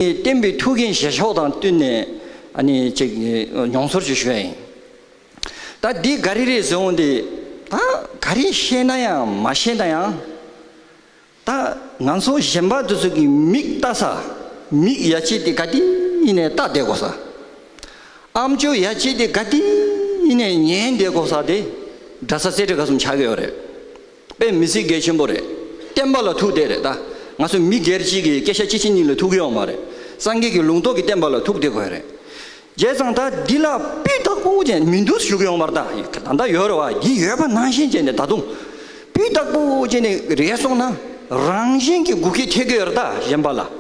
བསྟན་པའི་ཐུགས་འགན་བཞེས་ཕྱོགས་དང་བསྟུན་ནས་ཅིག་མྱོང་ཚོར་ཅིག་ཞུ་ཡ་ཡིན། ད་འདི་ག་རེ་རེད་ཟེར་འོང་དེ། ད་ག་རེ་བཤད་ན་ཡང་མ་བཤད་ན་ཡང། ད་ང་ཚོ་གཞན་པ་དེ་ཚོ་གི་མིག་ལྟ་ས། མིག་ཡ་ཆེ་དེ་ག་དེ་ཡིན་ནས་ལྟ་བསྡད་དགོ་ས། ཨམ་ཅོ་ཡ་ཆེ་དེ་ག་དེ་ཡིན་ནས་ཉན་བསྡད་དགོ་ས་དེ་འདྲ་ས་རྩེ་གྲས་ག་གསུམ་ཆགས་ཀྱི་ཡོད་རེད། པའི་མི་སྲིད་འགལ་ཆེན་པོ་རེད། བསྟན་པ་ལ་ཐུག་བསྡད་རེད་ད། ང་ཚོ་མི་སྒེར་གཅིག་གི་སྐད་ཆ་སྤྱི་ཆིངས་གཉིས་ལ་ཐུག་གི་ཡོག་མ་རེད། སངས་རྒྱས་ཀྱི་ལུང་རྟོགས་ཀྱི་བསྟན་པ་ལ་ཐུག་བསྡད་དགོས་རེད། རྒྱལ་བཟང་ད་འདི་ལ་སྤུས་དག་པོ་ཅན་མི་འདུག་ཞུ་གི་ཡོག་མར་ད་ད་ད་ཡོད་རེད་བ་འདི་ཡོད་པ་ནང་བཞིན་བྱས་ནས་ད་དུང། སྤུས་དག་པོ་ཅན་ནས་རེད་སོང་ན་རང་བཞིན་གྱི་སྒུག་ཁྱི་ཐེ་གི་ཡོད་རེད་ད་གཞན་པ་ལ།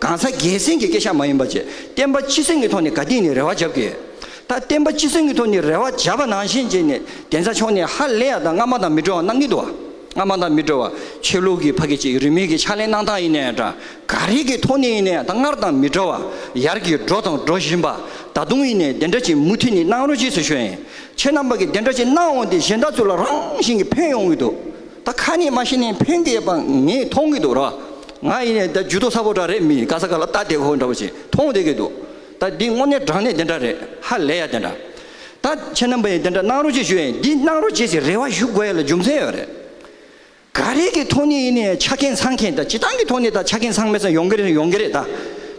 གང་ཟག་སྒེར་སེམས་ཀྱི་སྐད་ཆ་མ་ཡིན་པ་བཅས་བསྟན་པ་སྤྱི་སེམས་ཀྱི་ཐོག་ནས་དགའ་དད་ནས་རེ་བ་བརྒྱབ་ཀྱི་ཡོད། ད་བསྟན་པ་སྤྱི་སེམས་ཀྱི་ཐོག་ནས་རེ་བ་བརྒྱབ་པ་ནང་བཞིན་རྗེས་ནས་གདན་ས་མཆོག་ནས་ཧ་ལས་ཡག་དང་སྔ་མ་དང་མི་འགྲོ་བ་གནང་གི་འདུག་སྔ་མ་དང་མི་འགྲོ་བ་ཆོས་ལུགས་ཀྱི་ཕ་གི་ཅིག་རིས་མིང་གི་ཕྱག་ལེན་གནང་སྟངས་ཡིན་ནའི་འདྲ་ག་རེ་གི་ཐོག་ནས་ཡིན་ནའི་ད་སྔར་དང་མི་འགྲོ་བ་ཡར་གྱི་འགྲོ་དང་འགྲོ་བཞིན་པ་ད་དུང་ཡིན་ནའི་གདན་ཁྲ་ཅིག་མུ་མཐུད་ནས་གནང་རོགས་གྱིས་སུ་ཞུ་ཡིན་ཁྱེད་རྣམ་པ་གི་གདན་ཁྲ་ཅིག་གནང་འོང་དེ་གཞན་དག་ཚོ་ལ་རང་བཞིན་གྱི་ཕན་ཡོང་གི་འདུག། ད་ཁ་ནས་མ་ཤི་ནས་ཕན་གི་ཡོད་པ་ངས་མཐོང་གི་འདུག་ར་ང་ཡིན་ནས་ད་ཇུས་ཏོག་ཚ་པོ་འདྲ་རེད་མི་ག་ས་ག་ལ་ལྟ་བསྡད་ཁོ་འདྲ་བོ་ཞིག་མཐོང་བསྡད་ཀྱི་འདུག་ད་འདི་དངོས་གནས་དྲང་གནས་དེ་འདྲ་རེད་ཧ་ལས་ཡ་དེ་འདྲ་ད་ཁྱེད་རྣམ་པ་ཡིན་དེ་འདྲ་གནང་རོགས་གཅིག་ཞུ་ཡ་ཡིན་འདི་གནང་རོགས་བྱེད་ཟེར་རེ་བ་ཞུ་དགོས་ཡ་ལ་རྒྱུ་མཚན་ཡོད་རེད། ག་རེ་གི་ཐོག་ནས་ཡིན་ནས་ཆ་རྐྱེན་ཚང་མཁན་ད་ཇི་སྟང་གི་ཐོག་ནས་ད་ཆ་རྐྱེན་ཚང་མེད་ས་ཡོང་གི་རེད་ཡོང་གི་རེད་ད་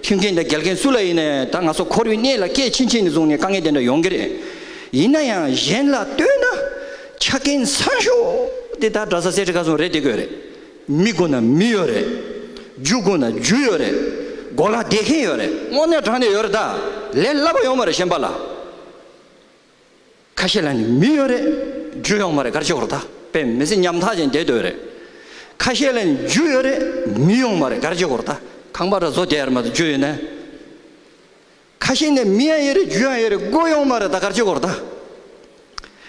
ཁྱིམ་རྐྱེན་ད་འགལ་རྐྱེན་སུ་ལ་ཡིན་ནས་ད་ང་ཚོ་ཁོར་ཡུག་གནས་ལ་སྐད་ཕྱིན་ཕྱིན་ནས་བཟུང་ནས་དཀའ་ངལ་དེ་འདྲ་ཡོང་གི་རེད་ཡིན་ན་ཡང་གཞན་ལ་ལྟོས་ན། ཆ་རྐྱེན་ཚར་ཤོག་དེ་དག་གྲྭ་ས་སེར་བྱེས་ག་སོང་རེད་དེ་གོས་རེད། མི་དགོས་ན་མི་ཡོད་རེད། རྒྱུ་དགོས་ན་རྒྱུ་ཡོད་རེད། མགོ་ལ་བསྡད་མཁན་ཡོད་རེད། སྔོ་ནད་དྲག་ནས་ཡོད་རེད་ད། ལས་སླ་པོ་ཡོང་མ་རེད་ཤན་པ་ལ། ཁ་ཤས་ལ་ནི་མི་ཡོད་རེད། རྒྱུ་ཡོང་མ་རེད་གར་ཆེ་བོར་ད་པེ་མི་ཚེ་ཉམ་ཐག་ཅན་བསྡད་འདོད་རེད། ཁ་ཤས་ལ་ནི་རྒྱུ་ཡོད་རེད་མི་ཡོང་མ་རེད་གར་ཆེ་བོར་ད་ཁང་པ་གྲ་བཟོ་བསྡད་ཡར་མ་ད་རྒྱུ་ཡོད་ན། ཁ་ཤས་ནས་མི་ཡང་ཡོད་རེད་རྒྱུ་ཡང་ཡོད་རེད་སྒོ་ཡོང་མ་རེད་ད་དཀར་ཆོས་སྐོར་དང།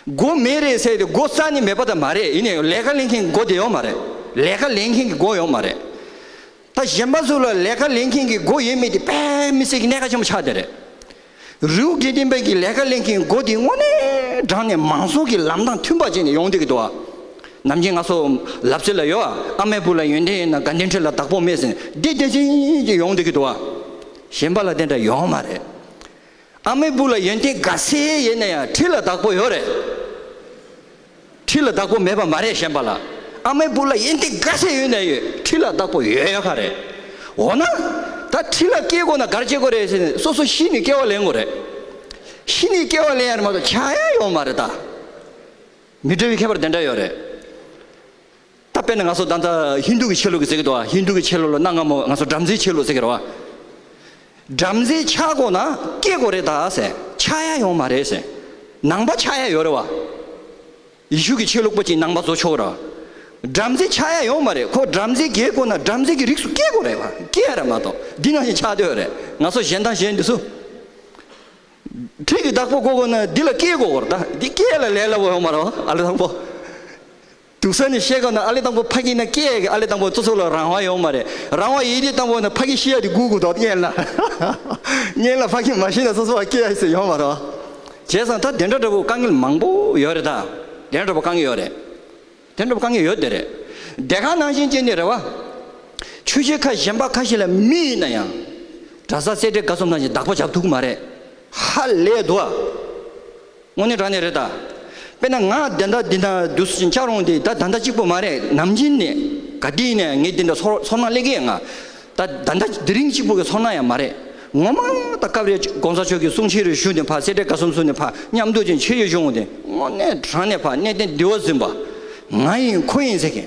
སྒོ་མེད་རེད་ཟེར་དེ་སྒོ་རྩ་ནས་མེད་པ་དང་མ་རེད་ཡིན་ནའི་ལས་ཀ་ལེན་མཁན་གྱི་སྒོ་དེ་ཡོང་མ་རེད་ལས་ཀ་ལེན་མཁན་གྱི་སྒོ་ཡོང་མ་རེད། ད་གཞན་པ་ཚོ་ལ་ལས་ཀ་ལེན་མཁན་གྱི་སྒོ་ཡོད་མེད་དེ་དཔེ་མི་སྲིད་ཀྱི་གནད་ཀ་ཆེན་པོ་ཆགས་བསྡད་རེད། རེའུ་དགེ་ལྡན་པའི་གྱི་ལས་ཀ་ལེན་མཁན་གྱི་སྒོ་དེ་དངོས་གནས་བགྲང་ནས་མང་གཙོ་གྱི་ལམ་དང་མཐུན་པ་བྱས་ནས་ཡོང་བསྡད་ཀྱི་འདུག་ཨ། ནམ་རྒྱུན་ང་ཚོ་ལབ་རྩེ་ལ་ཡོད་ཨ་མའི་བུ་ལ་ཡོན་ཏན་ཡོད་ན་དགའ་ལྡན་ཁྲི་ལ་བདག་པོ་མེད་ཟེར་ནས་བསྡད་བསྡད་བཞིན་གྱི་ཡོང་བསྡད་ཀྱི་འདུག་ཨ། གཞན་པ་ལ་དེ་འདྲ་ཡོང་མ་རེད། ཨ་མའི་བུ་ལ་ཡོན་ཏན་དགའ་སེ་ཡེ་ནས་ཡང་ཁྲི་ལ་བདག་པོ་ཡོད་རེད། ཁྲི་ལ་བདག་པོ་མེད་པ་མ་རེད་གཞན་པ་ལ་ཨ་མའི་བུ་ལ་ཡོན་ཏན་དགའ་སེ་ཡོད་ནས་ཡོད་ཁྲི་ལ་བདག་པོ་ཡོད་ཡོད་ཁ་རེད། འོ་ན། ད་ཁྲི་ལ་སྐྱེས་དགོས་ན་གར་སྐྱེས་དགོས་རེད་ཟེར་ནས་སོ་སོ་གཞི་ནས་སྐྱེ་བ་ལེན་དགོས་རེད། གཞི་ནས་སྐྱེ་བ་ལེན་ཡ་རེད་མ་གཏོགས་བྱ་ཡ་ཡོང་མ་རེད་ད། མི་འདྲ་བའི་ཁྱད་པར་དེ་འདྲ་ཡོད་རེད། ད་དཔེར་ན་ང་ཚོ་ད་ལྟ་ཧིན་དྷུ་གི་ཆོས་ལུགས་ཀྱི་ཟེར་གི་འདུག་བ་ཧིན་དྷུ་གི་ཆོས་ལུགས་ལ་གནའ་སྔ་མོ་ང་ཚོ་བྲམ་ཟེའི་ཆོས་ལུགས་ཟེར་གི་རེད་བ། བྲམ་ཟེ་ཆག་སྒོ་ན་སྐྱེ་དགོས་རེད་ད་ཟེར་ཆག་ཡ་ཡོང་མ་རེད་ཟེར་ནང་པ་ཆག་ཡ་ཡོད་རེད་བ། ཡེ་ཤུ་གི་ཆོས་ལུགས་པ་གཅིག་ནང་པ་བཟོ་ཆོག་ར། བྲམ་ཟེ་ཆག་ཡ་ཡོང་མ་རེད་ཁོ་བྲམ་ཟེ་རྒྱལ་དགོས་ན་བྲམ་ཟེ་གི་རིགས་སུ་སྐྱེ་དགོས་རེད་བ་སྐྱེ་ཡ་རེད་མ་གཏོགས་འདི་ནང་བཞིན་ཆག་འདོད་རེད་ང་ཚོ་གཞན་དང་གཞན་འདི་སུ། ཁྲིད་ཀྱི་བདག་པོ་དགོས་དགོས་ན་འདི་ལ་སྐྱེ་དགོས་ར་ད་འདི་སྐྱེ་ཡ་ལ་ལས་སླ་བོ་ཡོང་མ་ར་བ་ཨ་ལེ་དང་པོ། དུག་ས་ནས་ཤེས་ག་ནང་ཨ་ལེ་དང་པོ་ཕ་གིན་ན་ཀེ་ཡ་གི་ཨ་ལེ་དང་པོ་ཙོ་ཙོ་ལ་རང་དབང་ཡོང་མ་རེད་རང་དབང་ཡེ་ཏེ་དང་པོ་ནས་ཕ་གིན་ཤེས་ཡ་དེ་གུ་གུ་དོག་ཏེ་ཉན་ལ་ཉན་ལ་ཕ་གིན་མ་ཤེས་ན་ཙོ་ཙོ་བ་ཀེ་ཡ་ཟེར་ཡོང་མ་རོགས་བྱས་སང་ད་དེ་འདྲ་འདྲ་པོ་དཀའ་ངལ་མང་པོ་ཡོད་རེད་ད་དེ་འདྲ་པོ་དཀའ་ངལ་ཡོད་རེད་དེ་འདྲ་པོ་དཀའ་ངལ་ཡོད་དེ་རེད་བདེ་ཁང་ནང་བཞིན་ཅན་ནི་རེད་བ་ཆུ་བྱེད་ཁ་གཞན་པ་ཁ་ཤས་ལ་མི་ཡིན་ན་ཡང་གྲྭ་ས་སེ་འབྲས་དགའ་ཚོམ་ནང་བཞིན་བདག་པོ་བྱ་ཐུག་གི་མ་རེད་ཧ་ལས་དུ་བ། དངོས་གནས་དྲང་གནས་རེད་ད། དཔེར་ན་ང་བདེན་མཐའ་འདི་འདྲ་བསྡུ་ཞིང་ཆགས་རུང་དེ་ད་ད་འདྲ་གཅིག་པོ་མ་རེད་ནམ་རྒྱུན་ནས་ག་དུས་ནས་ངས་འདི་འདྲ་ཚོར་ཚོར་སྣང་སླེ་གི་ཡ་ང། ད་ད་འདྲ་དེ་རིང་གཅིག་པོ་གི་ཚོར་སྣང་ཡང་མ་རེད། ངོ་མ་ད་སྐབས་རེ་གོང་ས་མཆོག་གི་གསུང་ཕྱི་རུ་ཞུ་ནས་ཕར་སེ་འབྲས་དགའ་གསུམ་གསུང་ནས་ཕར་མཉམ་འདུག་ཅིག་བྱེད་ཡོད་བྱུང་དེ་དངོས་གནས་དྲང་གནས་ཕར་གནས་བརྟན་བདེ་བོ་ཟིན་པ་ང་ཡིན་ཁོ་ཡིན་ཟེར་མཁན་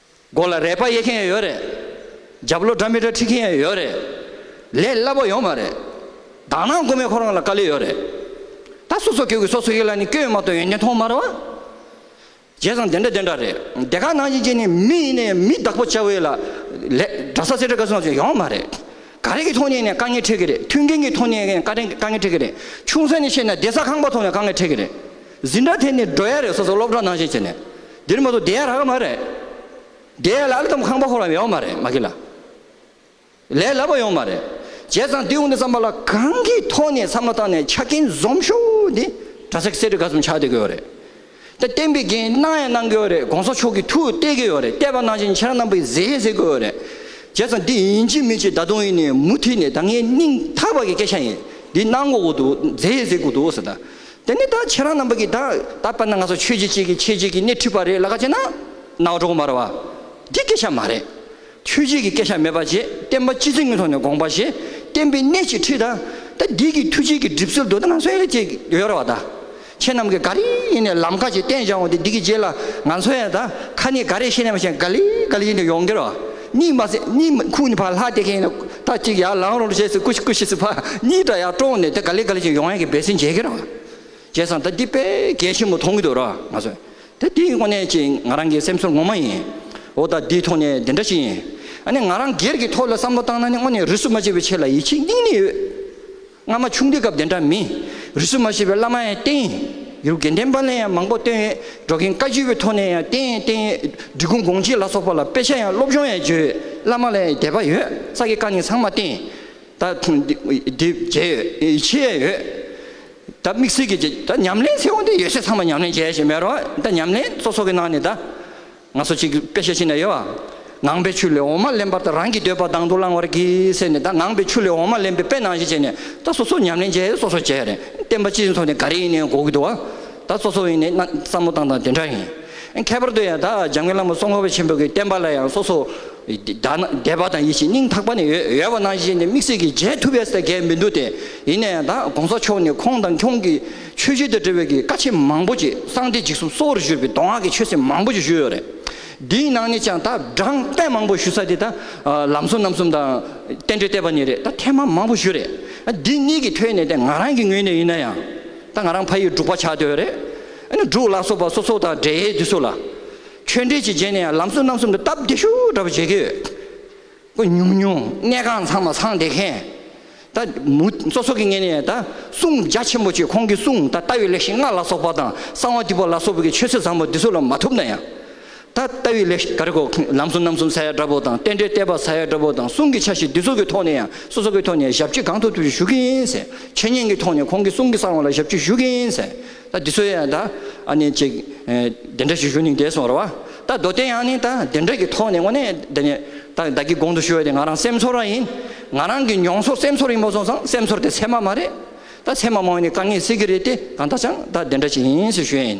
སྒོ་ལ་རས་པ་དབྱེ་མཁན་ཡོད་རེད། རྒྱབ་ལོ་སྒྲ་མི་སྒྲ་ཁྲིད་མཁན་ཡང་ཡོད་རེད། ལས་སླ་པོ་ཡོང་མ་རེད། དག་སྣང་དགོས་མེད་ཁོ་རང་ལ་དཀའ་ལས་ཡོད་རེད། ད་སོ་སོ་ཁྱོད་ཀྱི་སོ་སོ་ཡིད་ལ་ནི་སྐྱོན་ཡོད་མ་གཏོགས་ཡོན་ཏན་མཐོང་མ་རེད། བྱས་ཙང་དེ་འདྲ་དེ་འདྲ་རེད། དེ་ག་ནང་བཞིན་བྱས་ནས་མི་ཡིན་ནའི་མི་བདག་པོ་བྱ་བའི་ལ། ལས། འདྲ་ས་ཟེར་འདྲ་ག་སོང་ཟེར་ཡོང་མ་རེད། ག་རེ་གི་ཐོག་ནས་ནས་དཀའ་ངལ་འཕྲད་གི་རེད་མཐུན་རྐྱེན་གྱི་ཐོག་ནས་ནས་དཀའ་ངལ་འཕྲད་གི་རེད་ཆུང་ས་ནས་བཤད་ན་བདེ་ས་ཁང་པ་ཐོག་ནས་དཀའ་ངལ་འཕྲད་གི་རེད། ཟིན་འདྲ་དེ་ནི་སྒྲོ་ཡ་རེད་སོ་སོ་སློབ་གྲྭ་ནང་བཞིན་བྱས་ནས་འདིར་མ་གཏོགས་བསྡད་ཡ་རག་གི་མ་རེད། བསྡད་ཡ་ལ་ཨ་ལི་ཐམ་ཁང་པ་ཁོ་རང་ཡོང་གི་མ་རེད་མ་གི་ལ། ལས་ལབ་པ་ཡོང་གི་མ་རེད། བྱས་ཙང་དེ་དབུ་འདི་བསམ་པ་ལ་གང་གི་ཐོག་ནས་བསམ་བློ་བཏང་ནས་ཆ་རྐྱེན་འཛོམས་ཤོག་འདི་གྲྭ་ཚག་གསེར་ཁྲི་ག་ཚོམ་ཆགས་བསྡད་ཀྱི་ཡོད་རེད། དེ་བསྟན་པའི་འགན་གནང་ཡང་གནང་གི་ཡོད་རེད་གོང་ས་མཆོག་གིས་ཐུགས་གཏད་ཀྱི་ཡོད་རེད་གཏད་པ་ནང་བཞིན་ཁྱེད་རང་རྣམ་པས་མཛད་ཟེར་གྱི་ཡོད་རེད། བྱས་ཙང་འདི་ཡིན་གཅིག་མིན་གཅིག་ད་དུང་ཡིན་ནའི་མུ་མཐུད་ནས་ད་ངའི་སྙིང་ཐག་པ་གི་སྐད་ཆ་ཡིན་འདི་གནང་དགོས་ཀྱི་འདུག་མཛད་ཟེར་གྱི་འདུག་ཟེར་ན་དེ་ནས་ད་ཁྱེད་རང་རྣམ་པ་གིས་ད་ད་པར་ན་ང་ཚོ་ཆོས་བྱེད་ཅིག་གིས་ཁྱེད་ཅིག་གིས་སྣེ་འཁྲིད་པ་རེད་ལ་ཁ་ཅེ་ན། ནག་གྲོགས་མར་བ། འདི་སྐད་ཆ་མ་རེད། ཆོས་བྱེད་ཀྱི་སྐད་ཆ་མེད་པ་རྗེས་བསྟན་པ་སྤྱི་ཚེ་ངན་ཐོག་ནས་དགོངས་པ་ཞེས་བསྟན་པའི་སྣེ་གཅིག་འཁྲིད་ད། ད་འདི་གི་ཐུགས་བྱིན་གྱི་གྲིབ་སེལ་དུ་ད་ང་ཚོའི་ཡ་ཅེས་ཡོད་ར་བ་ད། ཁྱེད་རྣམས་གིས་ག་རེ་ཡིན་ནས་ལམ་ཁ་ཅིག་བསྟན་བྱང་བ་དེ་འདི་གི་རྗེས་ལ་ང་ཚོའི་ཡ་ད་ཁ་ནས་ག་རེ་བཤད་ནས་མ་བཤད་ག་ལི་ག་ལི་ཡིན་དུ་ཡོང་གི་ར་བ། གཉིད་མ་སད་གཉིད་ཁུག་ནས་ཕར་ལྷག་དེ་གིན་ད་ཅིག་ཡར་ལངས་རོགས་ཞེས་སྐུ་ཞིག་སྐུ་ཞིག་ཕར་གཉིད་དྲག་ཡར་དཀྲོངས་ནས་དེ་ག་ལེ་ག་ལེ་ཞིག་ཡོང་ཡ་གི་འབད་སྲིད་བྱེད་ཀྱི་རང་བྱས་སང་ད་འདི་དཔེ་གལ་ཆེན་པོ་མཐོང་གི་འདུག་ར་ང་བཟོད་དེ་དེ་ཡིན་ཁོ་ནའི་ཅི་ང་རང་གི་སེམས་ཚོར་ངོ་མ་ཡིན་འོ་ད་འདི་ཐོག་ནས་འདི་འདྲ་ཞིག་ཡིན་ཨ་ནི་ང་རང་སྒེར་གྱི་ཐོག་ལ་བསམ་བློ་བཏང་ན་ནི་དངོས་ནས་རུས་སུ་མ་བྱས་པའི་ཆེད་ལ་ཡིད་ཆེས་སྙིང་ནས་ཡོད། སྔ་མ་ཆུང་དུས་སྐབས་དེ་འདྲ་མིན། རིས་སུ་མ་ཆད་པའི་བླ་མ་ཡང་བསྟེན། ཡུལ་དགེ་ལྡན་པ་ལས་ཡང་མང་པོ་བཏོན། འགྲོ་མཁན་བཀའ་བརྒྱུད་པའི་ཐོག་ནས་ཡང་བསྟེན་བསྟེན། འབྲི་གུང་དགོངས་གཅིག་ལ་སོགས་པ་ལ་དཔེ་ཆ་ཡང་སློབ་སྦྱོང་ཡང་བརྗོད། བླ་མ་ལ་ཡང་དད་པ་ཡོད་ས་ཀྱི་བཀའ་ནི་ཚང་མ་བསྟེན། ད་མཇལ་ཡོད་ཕྱི་ཡས་ཡོད། ད་དམིགས་བསལ་གྱི་ད་ཉམས་ལེན་ཚེ་འོང་དེ་ཡོད་ཚད་ཚང་མ་ཉམས་ལེན་བྱས་ཞེས་མེད་རོགས། ད་ཉམས་ལེན་སོ་སོ་གི་ནང་ནས་ད། ང་ཚོ་གཅིག་དཔེ་བཤད་ཅི་ན་ཡོད། ངང་པའི་ཆུ་ལས་འོ་མ་ལེན་པར་ད་རང་གི་འདོད་པ་དང་དུ་བླང་བར་གྱིས་ཟེར་ནས་ད་ངང་པའི་ཆུ་ལས་འོ་མ་ལེན་པའི་དཔེ་ནང་བཞིན་བྱས་ནས་ད་སོ་སོ་ཉམས་ལེན་བྱས་སོ་སོ་བྱས་རེད་བསྟན་པ་སྤྱིའི་ཐོག་ནས་ག་རེ་ཡིན་ནའི་གོ་གི་འདུག་བ་ད་སོ་སོ་ཡིན་ནའི་བསམ་བློ་བཏང་དང་དེ་འདྲ་ཡིན། ཁྱད་པར་དུ་ཡང་ད་འཇམ་མགོན་བླ་མ་སྲོང་བ་ཆེན་པོ་གི་བསྟན་པ་ལ་ཡང་སོ་སོ་དད་པ་དང་ཡིད་ཆེས་སྙིང་ཐག་པ་ནས་ཡོད་པ་ནང་བཞིན་བྱས་ནས་དམིགས་བསལ་གྱིས་མཇལ་ཐུབ་པས་ད་གལ་མི་འདུག་སྟེ་ཡིན་ན་ཡང་ད་གོང་ས་མཆོག་ནས་ཁོང་དང་ཁྱོང་གི། ཆོས་བརྒྱུད་དང་འབྲེལ་བའི་གི་ཀ་ཆེན་མང་པོ་ཅིག་གསང་སྟེ་འཇིགས་སུམ་གསོ་བོར་བཞུར་བའི་མདོ་སྔགས་ཀྱི་ཆོས་སྲིད་མང་པོ་ཅིག་བཞུར་ཡོད་རེད། འདིའི་ནང་ནས་ཀྱང་ད་བགྲང་བསྟན་མང་པོ་ཞུ་ས་དེ་ད་ལམ་གསུམ་རྣམ་གསུམ་དང། བསྟན་འགྲོའི་བསྟན་པ་ནས་རེད་ད་ཐེངས་མང་མང་པོ་བཞུར་རེད། འདི་གཉིས་ཀྱི་ཐོས་ནས་དེ་ང་རང་གི་ངོས་ནས་ཡིན་ན་ཡང། ད་ང་རང་ཕ་ཡིས་འབྲུག་པ་ཆགས་འདོད་རེད། ཨ་ནི་འབྲུག་ལ་སོགས་པ་སོ་སོ་དང་འབྲེལ་ཡོད་དུས་སུ་ལ། ཆོས་འབྲེལ་ཅིག་བྱས་ནས་ཡང་ལམ་གསུམ་རྣམ་གསུམ་དུ་སྟབས་བདེ་ཤུགས་འདྲ་པོ་བྱེད་ཀྱི་ཡོད། ཨུ་ཉུང་ཉུང་གནས་ཁང་ཚང་མ་ཚང་བདེ་མཁན། ད་མུ་མཚོ་སོགས་ཀྱི་ངེས་ནས་ད་གསུང་རྒྱ་ཆེན་པོ་ཆོས་ཁོང་གི་གསུང་ད་ལྟ་བའི་ལེགས་བཤད་ལྔ་ལ་སོགས་པ་དང་གསང་བ་ཏི་པོ་ལ་སོགས་པའི་ཆོས་སྲོལ་བཟང་པོ་འདི་ཚོ་ལ་མ་ཐུབ་ན་ཡང། ད་ལྟ་བའི་ལེགས་བཤད་ག་རེ་གོ་ལམ་གསུང་རྣམ་གསུམ་ས་ཡ་བཀྲ་བྷོ་དང་རྟེན་འབྲེལ་གཏད་པ་ས་ཡ་བཀྲ་བྷོ་དང་གསུང་གི་ཆ་བཞི་འདི་ཚོ་གི་ཐོག་ནས་ཡང་སོ་སོ་གི་ཐོག་ནས་ཞབས་ཕྱི་གང་ཐུབ་ཐུབ་ཀྱིས་ཞུ་གིན་ཡིན། འཆད་ཉན་གི་ཐོག་ནས་ཁོང་གི་གསུང་གི་གསང་བ་ལ་ཞབས་ཕྱི་ཞུ་གིན་ཡིན། ད་འདི་ཚོའི་ཡང་ད་ཨ་ནི་ཅིག་དེ་འདྲ་ཞིག་ཞུ་ནིང་དེ་སོང་ར་བ། ད་མདོ་སྟེ་ཡང་ནིང་ད་དེ་འདྲ་གི་ཐོག་ནས་ངོ་ནས་དེ་ནི་ད་བདག་གི་དགོངས་དུ་ཞུ་བ་དེ་ང་རང་སེམས་ཚོར་བ་ཡིན། ང་རང་གི་མྱོང་ཚོར་སེམས་ཚོར་ཡིན་པ་སོང་ཙང་སེམས་ཚོར་དེ་ཚད་མ་མ་རེད། ད་ཚད་མ་མང་བས་ནི་དཀའ་ངལ་སེལ་གི་རེད་དེ་གང་ལྟར་ཅང་ད་དེ་འདྲ་ཞིག་ཡིན་ཞེས་ཞུ་ཡ་ཡིན།